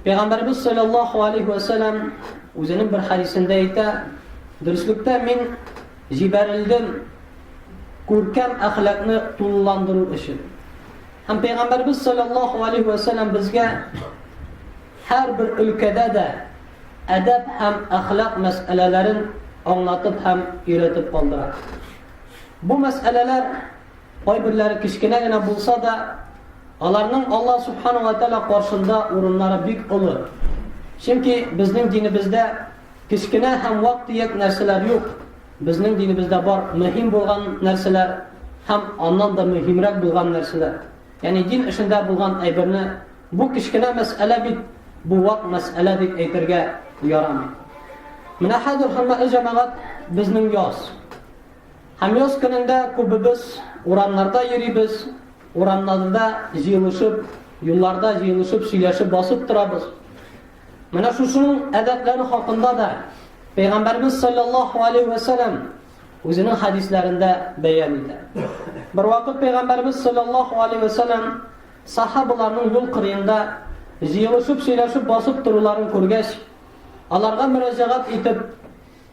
Пәйгамбәрбез салләллаһу алейһи вә сәлләм үзенең бер хәдисендә әйтә, дөреслектә мин җибәрелдем күркәм әхлакны тулыландыру өчен. Һәм пәйгамбәрбез салләллаһу алейһи вә сәлләм безгә һәрбер өлкәдә дә әдәп һәм әхлак мәсьәләләрен аңлатып һәм өйрәтеп калдыра. Бу мәсьәләләр Кайберләре кечкенә генә булса да, аларның Аллаһ Субхану ва Тәала каршында урыннары бик олы. Чөнки безнең динебездә кечкенә һәм вак төяк нәрсәләр юк. Безнең динебездә бар мөһим булган нәрсәләр һәм аннан да мөһимрәк булган нәрсәләр. Ягъни дин эшендә булган әйберне бу кечкенә мәсьәлә бит, бу вак мәсьәлә дип әйтергә ярамый. Менә хәзер хөрмәтле җәмәгать, безнең яз. Һәм яз көнендә күбебез урамнарда йөрибез, урамнарда җыелышып, юлларда җыелышып, сөйләшеп басып торабыз. Менә шушының әдәпләре хакында да Пәйгамбәрбез саллаллаһу алейхи ва саллям үзенең хадисләрендә бәян итә. Бер вакыт Пәйгамбәрбез саллаллаһу алейхи ва саллям сахабаларның юл кырыенда җыелышып сөйләшеп басып торуларын күргәч, аларга мөрәҗәгать итеп,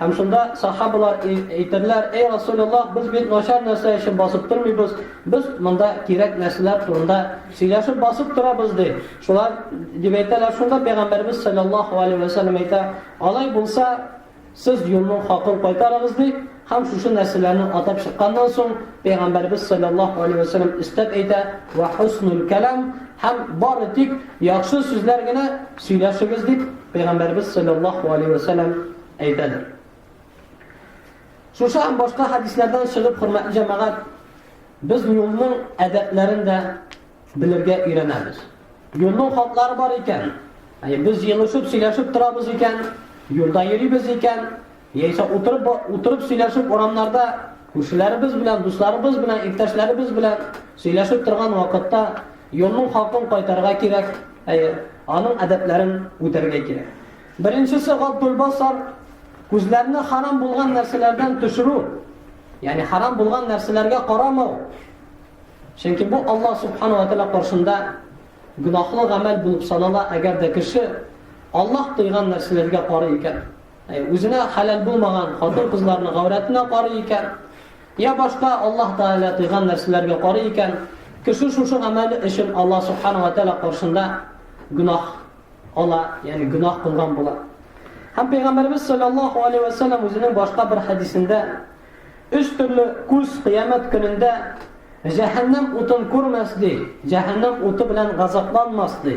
Һәм шунда сахабалар әйтерләр, Әй Расуләллаһ, без бит начар нәрсә өчен басып тормыйбыз, без монда кирәк нәрсәләр турында сөйләшеп басып торабыз, ди. Шулар дип әйтәләр, шунда Пәйгамбәрбез саллаллаһу алейһи ва сәлләм әйтә, Алай булса, сез юлның хакын кайтарыгыз, ди. Һәм шушы нәрсәләрне атап чыкканнан соң, Пәйгамбәрбез саллаллаһу алейһи ва сәлләм өстәп әйтә, Ва хуснул кәлам, һәм бары тик Яхшы сүзләр генә сөйләшегез дип Пәйгамбәребез салләллаһу алейһи вә сәлләм әйтәдер. Шушы һәм башка хәдисләрдән чыгып, хөрмәтле җәмәгать, без юлның әдәпләрен дә белергә өйрәнәбез. Юлның хатлары бар икән. Әй, без елышып, сөйләшеп торабыз икән, юлда йөрибез икән, Яисә утырып утырып сөйләшеп урамнарда күршеләребез белән, дусларыбыз белән, иптәшләребез белән сөйләшеп торган вакытта юлның хакын кайтарга кирәк, әйе, аның әдәпләрен үтәргә кирәк. Беренчесе Габдул Басар күзләрне харам булган нәрсәләрдән төшерү, ягъни харам булган нәрсәләргә карамау. Чөнки бу Аллаһ субхану ва тааля каршында гөнаһлы гамәл булып санала, әгәр дә кеше Аллаһ тыйган нәрсәләргә карый икән. Үзенә хәләл булмаган хатын-кызларның гаурәтенә карый икән, йә башка Аллаһ Тәгалә тыйган нәрсәләргә карый икән, кеше шушы гамәле өчен Аллаһ Субхана ва Тәгалә каршында гөнаһ ала, ягъни гөнаһ кылган була. Һәм Пәйгамбәрбез саллаллаһу алейһи ва саллям үзенең башка бер хәдисендә өч төрле күз кыямәт көнендә җәһәннәм утын күрмәс ди, җәһәннәм уты белән газапланмас ди.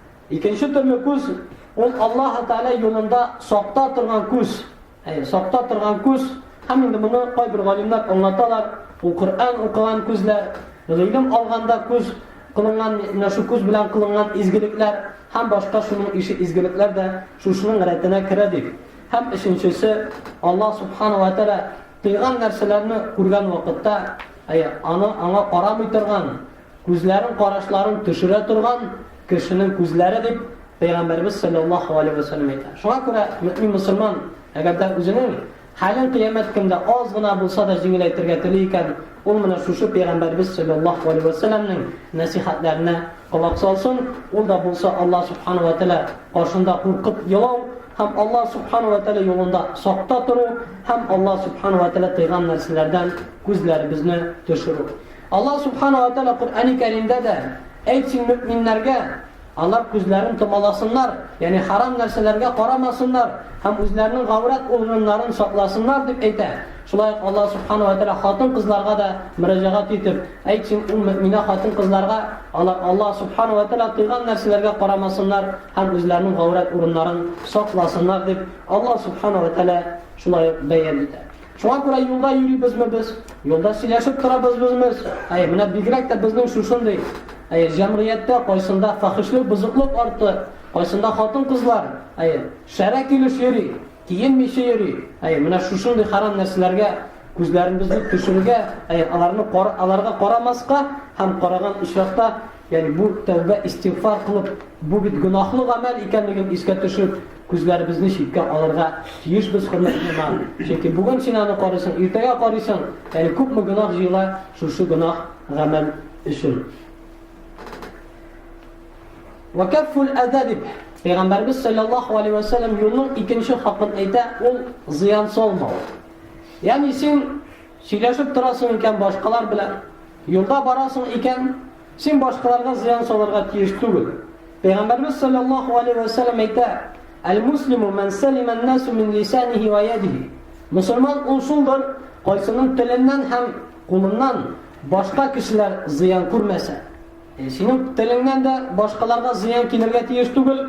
Икенче төрле күз ул Аллаһ Тәгалә юлында сакта торган күз. Әйе, сакта торган күз. Һәм инде моны кайбер галимнәр аңлаталар. Ул Коръән укыган күзләр, гыйлем алганда күз кылынган, менә шу күз белән кылынган изгелекләр һәм башка шуның ише изгелекләр дә шушының рәтенә керә дип. Һәм өченчесе Аллаһ Субхану ва Тәгалә тыйган нәрсәләрне күргән вакытта, әйе, аны аңа карамый торган Күзләрен карашларын төшерә торган кешенең күзләре дип Пәйгамбәребез салләллаһу алейһи вә сәлләм әйтә. Шуңа күрә мөэмин мөселман, әгәр дә үзенең хәлен кыямәт көндә аз гына булса да җиңеләйтергә тели икән, ул менә шушы Пәйгамбәребез салләллаһу алейһи вә сәлләмнең нәсыйхәтләренә колак салсын, ул да булса Аллаһ субхана вә тәгалә каршында куркып елау һәм Аллаһ субхана вә тәгалә юлында сакта тору һәм Аллаһ субхана вә тәгалә тыйган нәрсәләрдән күзләребезне төшерү. Аллаһ Сүбхәнәһү вә Тәгалә Коръәни Кәримдә дә, Әйт син мөэминнәргә, алар күзләрен томаласыннар, ягъни харам нәрсәләргә карамасыннар һәм үзләренең гаурәт ургыннарын сакласыннар, дип әйтә. Шулай ук Аллаһ Сүбхәнәһү вә Тәгалә хатын-кызларга да мөрәҗәгать итеп, Әйт син, ул мөэминә хатын-кызларга, алар Аллаһ Сүбхәнәһү вә Тәгалә тыйган нәрсәләргә карамасыннар һәм үзләренең гаурәт урыннарын сакласыннар, дип Аллаһ Сүбхәнәһү вә Тәгалә шулай ук бәян итә. Шуңа күрә юлда йөрибезме без, юлда сөйләшеп торабызбызмыз, әй, менә бигрәк тә безнең шушындый, әй, җәмгыятьтә кайсында фәхешлек, бозыклык арты, кайсында хатын-кызлар, әй, шәрә килеш йөри, киенмичә йөри, әй, менә шушындый хәрам нәрсәләргә күзләребезне төшерергә, әй, аларны кара, аларга карамаска һәм караган очракта, ягъни бу тәүбә, истигъфар кылып, бу бит гөнаһлы гамәл икәнлеген искә төшереп, Күзләребезне читкә алырга тиешбез, хөрмәтле имам. Чөнки бүген син аны карыйсың, иртәгә карыйсың. Әле күпме гөнаһ җыела шушы гөнаһ гамәл өчен. Вакафул әза дип Пәйгамбәрбез саллаллаху алейхи ва саллям юлның икенче хакын әйтә, ул зыян салмау. Ягъни син сөйләшеп торасың икән башкалар белән, юлда барасың икән, Син башкаларга зыян салырга тиеш түгел. Пәйгамбәрбез саллаллаһу алейһи вә сәлләм әйтә: "Әл-муслиму ман салима ан-насу мин лисаниһи ва ядиһи". Мусульман ул шулдыр, кайсының теленнән һәм кулыннан башка кешеләр зыян күрмәсә. Ә синең телеңнән дә башкаларга зыян килергә тиеш түгел,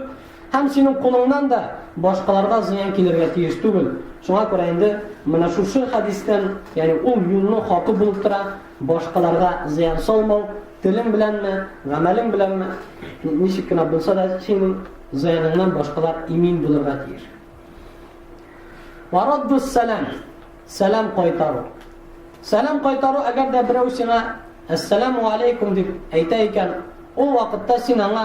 һәм синең кулыңнан да башкаларга зыян килергә тиеш түгел. Шуңа күрә инде менә шушы хәдистән, ягъни ул юлның хакы булып тора, Башкаларга зыян салмау, телең беләнме, гамәлең беләнме, ничек кенә булса да, синең зыяныңнан башкалар имин булырга тиеш. Вараддус сәлам, сәлам кайтару. Сәлам кайтару, әгәр дә берәү сиңа Әссәләму алейкум дип әйтә икән, ул вакытта син аңа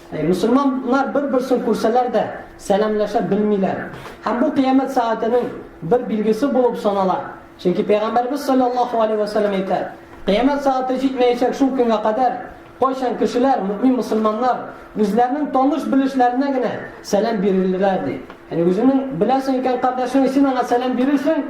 Мөселманнар бер-берсен күрсәләр дә, сәламләшә белмиләр. Һәм бу кыямәт сәгатенең бер билгесе булып санала. Чөнки Пәйгамбәребез салләллаһу алейһи вә сәлләм әйтә, Кыямәт сәгате җитмәячәк шул көнгә кадәр, кайчан кешеләр, мөэмин мөселманнар, үзләренең таныш-белешләренә генә сәлам бирерләр, ди. Ягъни үзеңнең беләсең икән кардәшеңне, син аңа сәлам бирерсең.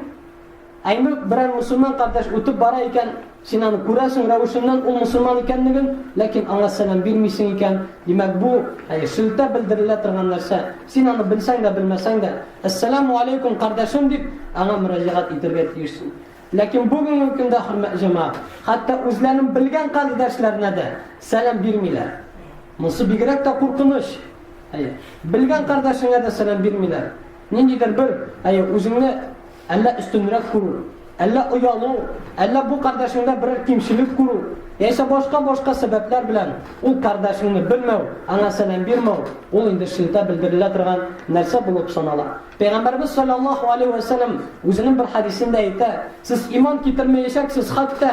Әйнүк, берәр мөселман кардәш үтеп бара икән, син аны күрәсең, рәвешеннән ул мөселман икәнлеген, ләкин аңа сәлам бирмисең икән, димәк, бу, әйе, сөлтә белдерелә торган нәрсә. Син аны белсәң дә, белмәсәң дә, Әссәләмү аләйкүм, кардәшем, дип, аңа мөрәҗәгать итәргә тиешсең. Ләкин бүгенге көндә, хөрмәтле җәмәгать, хәтта үзләренең белгән кардәшләренә дә сәлам бирмиләр. Монсы бигрәк тә куркыныч. Әйе, белгән кардәшеңә дә сәлам бирмиләр. Ниндидер бер, әйе, үзеңне. Әллә өстенрәк күрү, әллә оялу, әллә бу кардәшеңдә берәр кимчелек күрү, яисә башка-башка сәбәпләр белән ул кардәшеңне белмәү, аңа сәлам бирмәү, ул инде шелтә белдерелә торган нәрсә булып санала. Пәйгамбәребез салләллаһу алейһи вә сәлләм үзенең бер хәдисендә әйтә, Сез иман китермәячәксез хәтта,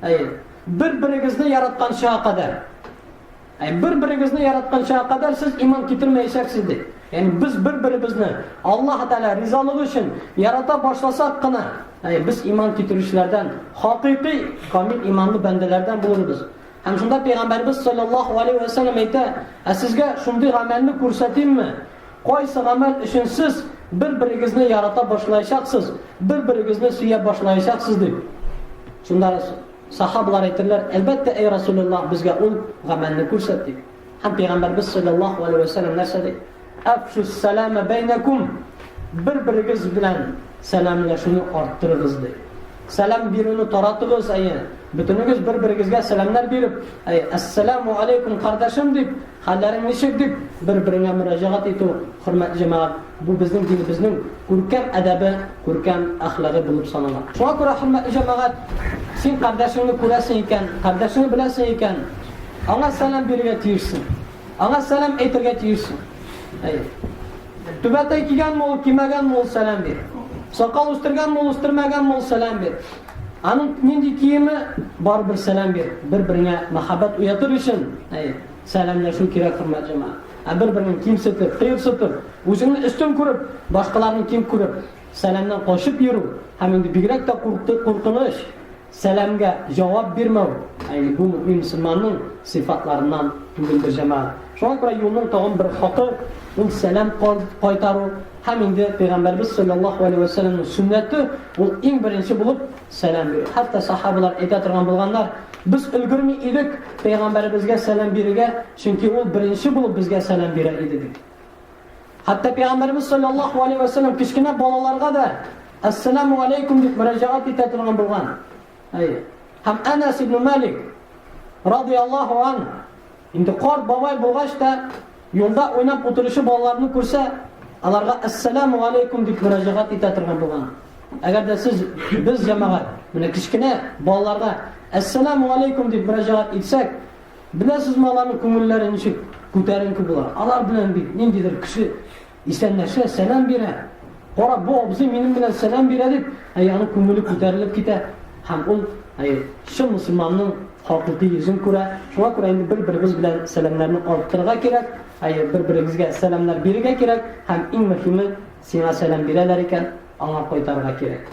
әйе, бер-берегезне яратканчыга кадәр. Ә бер-берегезне яратканчага кадәр сез иман китермәячәксез, ди. Ягъни без бер-беребезне Аллаһ Тәгалә ризалыгы өчен ярата башласак кына, әй, без иман китерүчеләрдән, хакыйкый камил иманлы бәндәләрдән булырбыз. Һәм шунда пәйгамбәрбез саллаллаһу алейһи ва саллям әйтә, "Ә сезгә шундый гамәлне күрсәтимме? Кайсы гамәл өчен сез бер-берегезне ярата башлаячаксыз, бер-берегезне сөя башлаячаксыз?" дип. Шунда Сахабалар әйтерләр, Әлбәттә, әй Расулеллаһ, безгә ул гамәлне күрсәт, дип. Һәм Пәйгамбәрбез салләллаһу галәйһи вә сәлләм нәрсә ди? Әфшүс-сәләмә бәйнәкүм, бер-берегез белән сәламләшүне арттырыгыз, ди. Сәлам бирүне таратыгыз, әйе, бөтенегез бер-берегезгә сәламнәр биреп, әй, әссәләмү аләйкүм, кардәшем, дип, хәлләрең ничек, дип, бер-береңә мөрәҗәгать итү, хөрмәтле җәмәгать. Бу безнең динебезнең күркәм әдәбе, күркәм әхлагы булып санала. Шуңа күрә, хөрмәтле җәмәгать, син кардәшеңне күрәсең икән, кардәшеңне беләсең икән, аңа сәлам бирергә тиешсең, аңа сәлам әйтергә тиешсең. Әйе. Түбәтәй кигәнме ул, кимәгәнме ул, сәлам бир. Сакал үстергәнме ул, үстермәгәнме ул, сәлам бир. Аның нинди киеме, барыбер сәлам бир. Бер-береңә мәхәббәт уятыр өчен, әйе, сәламләшү кирәк, хөрмәтле җәмәгать. Ә бер-береңне кимсетеп, кыерсытып, үзеңне өстен күреп, башкаларны ким күреп, сәламнән качып йөрү һәм инде бигрәк тә куркты, куркыныч, сәламгә җавап бирмәү, әйе, бу мөэмин мөселманның сыйфатларыннан түгелдер, җәмәгать. Шуңа күрә юлның тагын бер хакы, ул сәлам кайтару һәм инде Пәйгамбәрбез салләллаһу алейһи вә сәлләмнең сөннәте, ул иң беренче булып сәлам бирү. Хәтта сахабалар әйтә торган булганнар, без өлгерми идек Пәйгамбәребезгә сәлам бирергә, Чөнки ул беренче булып безгә сәлам бирә иде бит. Хәтта Пәйгамбәрбез салләллаһу алейһи вә сәлләм кечкенә балаларга да Әссәламу алейкум дип мөрәҗәгать итә торган булган. Әйе. Һәм Әнәс ибн Малик радияллаһу ан инде карт бабай булгач та юлда уйнап утыручы балаларны күрсә, аларга Әссәламу алейкум дип мөрәҗәгать итә торган булган. Әгәр дә сез без җәмәгать, менә кечкенә балаларга Әссәламу алейкум дип мөрәҗәгать итсәк, Беләсезме, аларның күңелләре ничек күтәренке була? Алар белән бит ниндидер кеше исәнләшә, сәлам бирә. Кара, бу абзый минем белән сәлам бирә дип, әй аның күңеле күтәрелеп китә. Һәм ул, әй, чын мөселманның хакыйкый йөзен күрә. Шуңа күрә инде бер-беребез белән сәламнәрне арттырырга кирәк, әй, бер-беребезгә сәламнәр бирергә кирәк һәм иң мөһиме, сиңа сәлам бирәләр икән, аңа кайтарырга кирәк.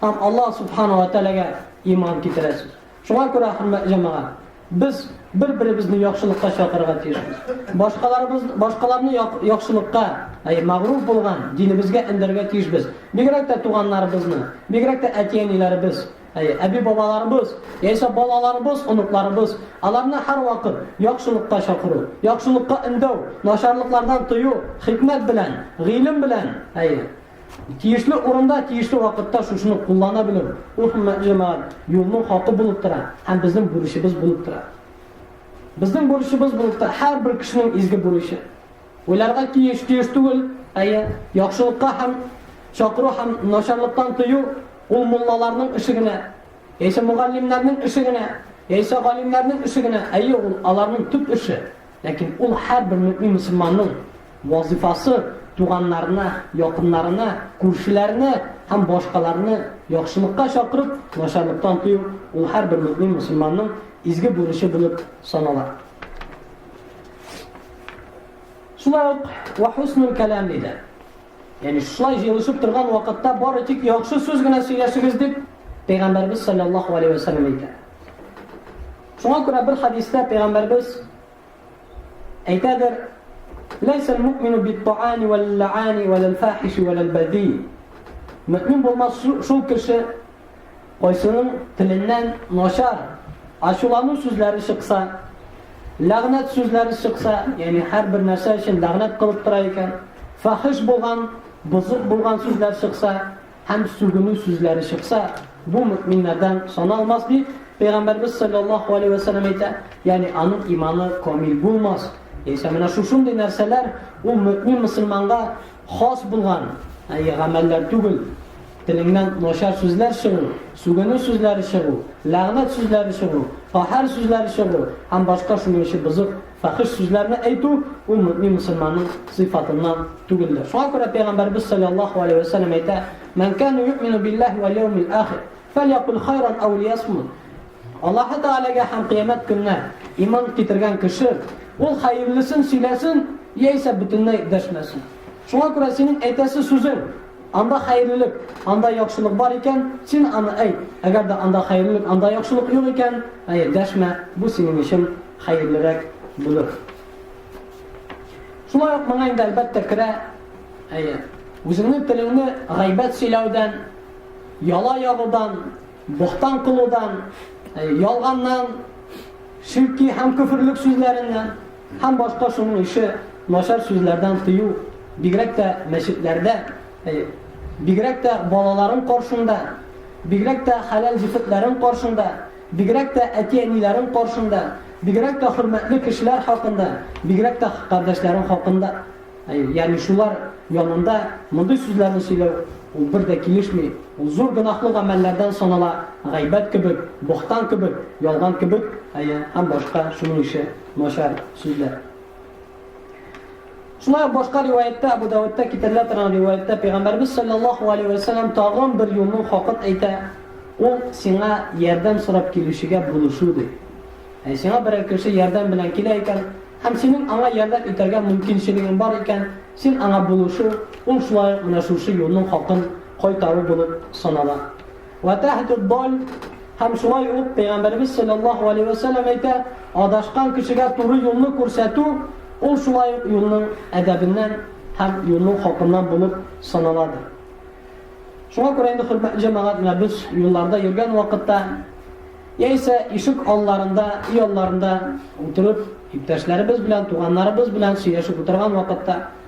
һәм Аллаһ Субхана ва Тәгаләгә иман китерәсез. Шуңа күрә, хөрмәтле җәмәгать, без бер-беребезне яхшылыкка чакырырга тиешбез. Башкаларыбыз, башкаларны яхшылыкка, әй мәгъруф булган динебезгә эндәргә тиешбез. Бигрәк тә туганнарыбызны, бигрәк тә әти-әниләребез, әй әби-бабаларыбыз, яисә балаларыбыз, оныкларыбыз, аларны һәрвакыт яхшылыкка чакыру, яхшылыкка эндәү, начарлыклардан тыю, хикмәт белән, гыйлем белән, әй Тиешле урында, тиешле вакытта шушыны куллана белү, ул мәгълүмат, юлның хакы булып тора һәм безнең бурычыбыз булып тора. Безнең бурычыбыз булып тора һәрбер кешенең изге бурычы. Уйларга тиеш, тиеш түгел, әйе, яхшылыкка һәм чакыру һәм начарлыктан тыю ул муллаларның эше генә, яисә мугаллимнәрнең эше генә, яисә галимнәрнең эше генә, әйе, ул аларның төп эше. Ләкин ул һәрбер мөэмин мөселманның вазыйфасы, туганнарына, якыннарына, күршеләренә һәм башкаларны яхшылыкка чакырып, начарлыктан тыю, ул һәрбер мөэмин мөселманның изге бурычы булып санала. Шулай ук ва хуснул кәлам диде. Ягъни шулай җыелышып торган вакытта бары тик яхшы сүз генә сөйләшегез дип Пәйгамбәрбез саллаллаһу алейһи ва саллям әйтә. Шуңа күрә бер хәдистә Пәйгамбәрбез әйтәдер, Ләйсә әл-му'мину бит-та'ани вәл-лә'ани вәл-фахиши вәл-бәди. Мө'мин булмас шул кеше, кайсының теленнән начар, ачулану сүзләре чыкса, ләгънәт сүзләре чыкса, ягъни һәрбер нәрсә өчен ләгънәт кылып тора икән, фахиш булган, бозык булган сүзләр чыкса, Һәм сүгенү сүзләре чыкса, бу мөэминнәрдән саналмас, дип Пәйгамбәрбез салләллаһу алейһи вә сәлләм әйтә, ягъни аның иманы камил булмас. Яисә менә шушындый нәрсәләр ул мөэмин мөселманга хас булган, әйе, гамәлләр түгел. Телеңнән начар сүзләр чыгу, сүгенү сүзләре чыгу, ләгънәт сүзләре чыгу, каһәр сүзләре чыгу һәм башка шуның ише бозык Фәхеш сүзләрне әйтү, ул мөэмин мөселманның сыйфатыннан түгелдер. Шуңа күрә Пәйгамбәребез салләллаһу галәйһи вә сәлләм әйтә, Мән кәнә юэмину биллаһи вәл яумил ахир, фәльякуль хайран әү лиясмут. Аллаһы Тәгаләгә һәм Кыямәт көненә иман китергән кеше, ул хәерлесен сөйләсен, яисә бөтенләй дәшмәсен. Шуңа күрә синең әйтәсе сүзең, анда хәерлелек, анда яхшылык бар икән, син аны әйт, әгәр дә анда хәерлелек, анда яхшылык юк икән, әйе, дәшмә, бу синең өчен хәерлерәк булыр. Шулай ук моңа инде әлбәттә керә, әйе, үзеңнең телеңне гайбәт сөйләүдән, яла ягудан, бохтан кылудан, ялганнан, ширки һәм көферлек сүзләреннән һәм башка шуның ише начар сүзләрдән тыю, бигрәк тә мәчетләрдә, бигрәк тә балаларың каршында, бигрәк тә хәләл җефетләрең каршында Бигрәк тә әти-әниләрем каршында, бигрәк тә хөрмәтле кешеләр хакында, бигрәк тә кардәшләрем хакында, ягъни шулар янында мондый сүзләрне сөйләү, ул бер дә килешми, ул зур гөнаһлы гамәлләрдән санала, гайбәт кебек, бохтан кебек, ялган кебек, әйе, һәм башка шуның ише начар сүзләр. Шулай ук башка риваятьтә, Абу Даудта китерелә торган риваятьтә Пәйгамбәрбез саллаллаһу алейһи ва саллям тагын бер юлның хакыт әйтә, ул сиңа ярдәм сорап килүчегә булышу ди. Ә сиңа берәр кеше ярдәм белән килә икән, һәм синең аңа ярдәм итәргә мөмкинчелегең бар икән, син аңа булышу, ул шулай ук менә шушы юлның хакын кайтару булып санала. Ватахтуддаль һәм шулай ук Пәйгамбәрбез саллаллаһу алейһи ва сәлләм әйтә, адашкан кешегә туры юлны күрсәтү ул шулай ук юлның әдәбеннән һәм юлның хакыннан булып саналады. Шуңа күрә инде хөрмәтле җәмәгать менә без юлларда йөргән вакытта яисә ишек алларында, өй алларында утырып, иптәшләребез белән, туганнарыбыз белән сөйләшеп утырган вакытта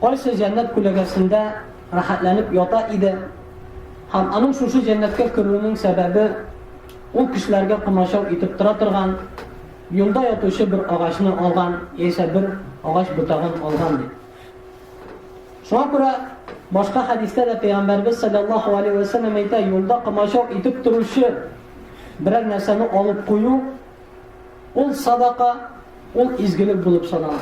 Кайсы җәннәт күләгәсендә рәхәтләнеп ята иде һәм аның шушы җәннәткә керүенең сәбәбе ул кешеләргә комачау итеп тора торган юлда ятучы бер агачны алган яисә бер агач ботагын алган ди. Шуңа күрә башка хәдистә дә Пәйгамбәрбез салләллаһу алейһи вә сәлләм әйтә, юлда комачау итеп торучы берәр нәрсәне алып кую Ул садака, ул изгелек булып санала.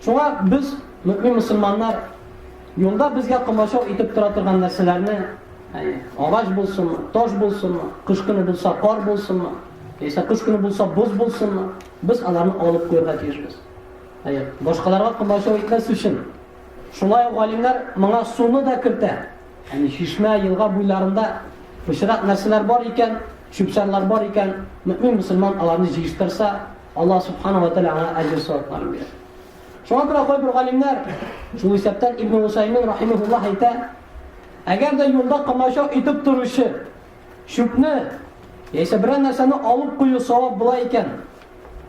Шуңа без, мөмин мөселманнар, юлда безгә комачау итеп тора торган нәрсәләрне, әйе, агач булсынмы, таш булсынмы, кыш көне булса кар булсынмы, яисә кыш көне булса боз булсынмы, без аларны алып куярга тиешбез. Әйе, башкаларга комачау итмәс өчен. Шулай ук галимнәр моңа суны да кертә. Әни, чишмә, елга буйларында пычрак нәрсәләр бар икән, чүп-чарлар бар икән, мөэмин мөселман аларны җыештырса, Аллаһ субхана ва тәгалә аңа әҗер савапларын бирә. Шуңа күрә кайбер галимнәр, шул исәптән Ибн Усаймин рахимахуллаһ әйтә, әгәр дә юлда комача итеп торучы чүпне яисә берәр нәрсәне алып кую савап була икән,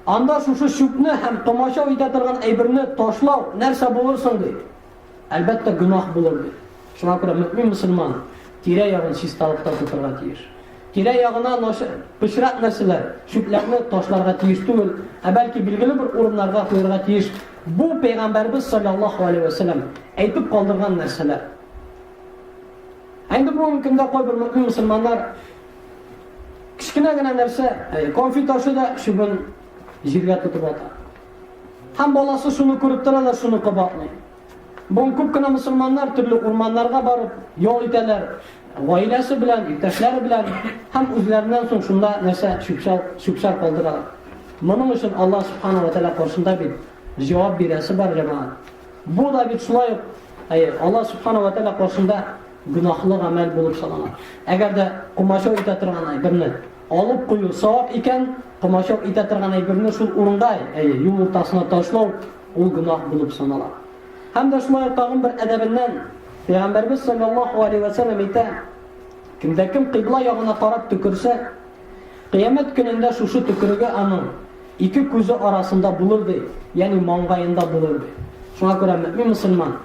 анда шушы чүпне һәм комача итә торган әйберне ташлау нәрсә булыр соң ди? Әлбәттә, гөнаһ булыр бит. Шуңа күрә мөэмин-мөселман тирә-ягын чисталыкта тотарга тиеш. Тирә-ягына начар, пычрак нәрсәләр, чүпләрне ташларга тиеш түгел, ә бәлки билгеле бер урыннарга куярга тиеш. Бу Пәйгамбәрбез салләллаһу алейһи вә сәлләм әйтеп калдырган нәрсәләр. Ә инде бүгенге көндә кайбер мөэмин-мөселманнар кечкенә генә нәрсә, конфет ашы да чүбен җиргә тотып ата. Һәм баласы шуны күреп тора да шуны кабатлый. Бүген күп кенә мөселманнар төрле урманнарга барып ял итәләр, гаиләсе белән, иптәшләре белән һәм үзләреннән соң шунда нәрсә чүпчәл чүпчәл калдыралар. Моның өчен Аллаһ субханаһу ва тааля каршында бит җавап бирәсе бар җәмәгать. Бу да бит шулай ук, әйе, Аллаһ субханаһу ва тааля каршында гөнаһлы гамәл булып санала. Әгәр дә комачау итә торган берне Алып кую савап икән, комачау итә торган әйберне шул урында, әйе, юл уртасына ташлау, ул гөнаһ булып санала. Һәм дә шулай ук тагын бер әдәбеннән Пәйгамбәрбез саллаллаһу алейһи ва сәлләм әйтә, кемдә кем кыйбла ягына карап төкерсә, кыямәт көнендә шушы төкереге аның ике күзе арасында булыр ди, ягъни маңгаенда булыр ди. Шуңа күрә мөмин мусульман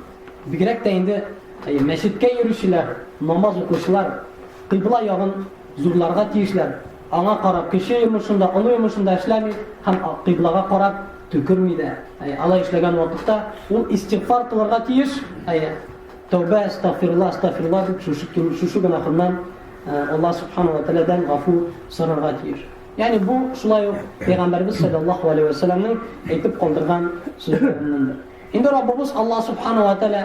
бигрәк тә инде мәчеткә йөрүчеләр, намаз укучылар кыйбла ягын Зурларга тиешләр, аңа карап, кече йомышын да, олы йомышын да эшләми һәм кыйблага карап төкерми дә. Әйе, алай эшләгән вакытта ул истигъфар кылырга тиеш. Әйе, тәүбә, астагфирулла, астагфирулла дип шушы кем, шушы гөнаһыннан э, Аллаһ субхана ва тәгаләдән гафу сорарга тиеш. Ягъни бу шулай ук пәйгамбәрбез саллаллаху алейхи ва саллямның әйтеп калдырган сүзләреннән. Инде Раббыбыз Аллаһ субхана ва тәгалә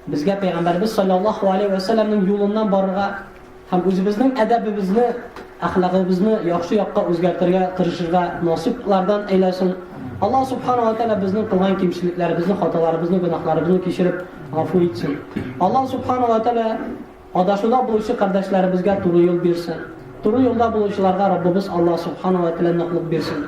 Безгә Пәйгамбәрбез салләллаһу алейһи вә сәлләмнең юлыннан барырга һәм үзебезнең әдәбебезне, әхлагыбызны яхшы якка үзгәртергә тырышырга насыйплардан әйләсен. Аллаһ субхана ва тәгалә безнең кылган кимчелекләребезне, хаталарыбызны, гөнаһларыбызны кичереп, гафу итсен. Аллаһ субхана ва тәгалә адашуда булучы кардәшләребезгә туры юл бирсен. Туры юлда булучыларга Раббыбыз Аллаһ субхана ва тәгалә ныклык бирсен.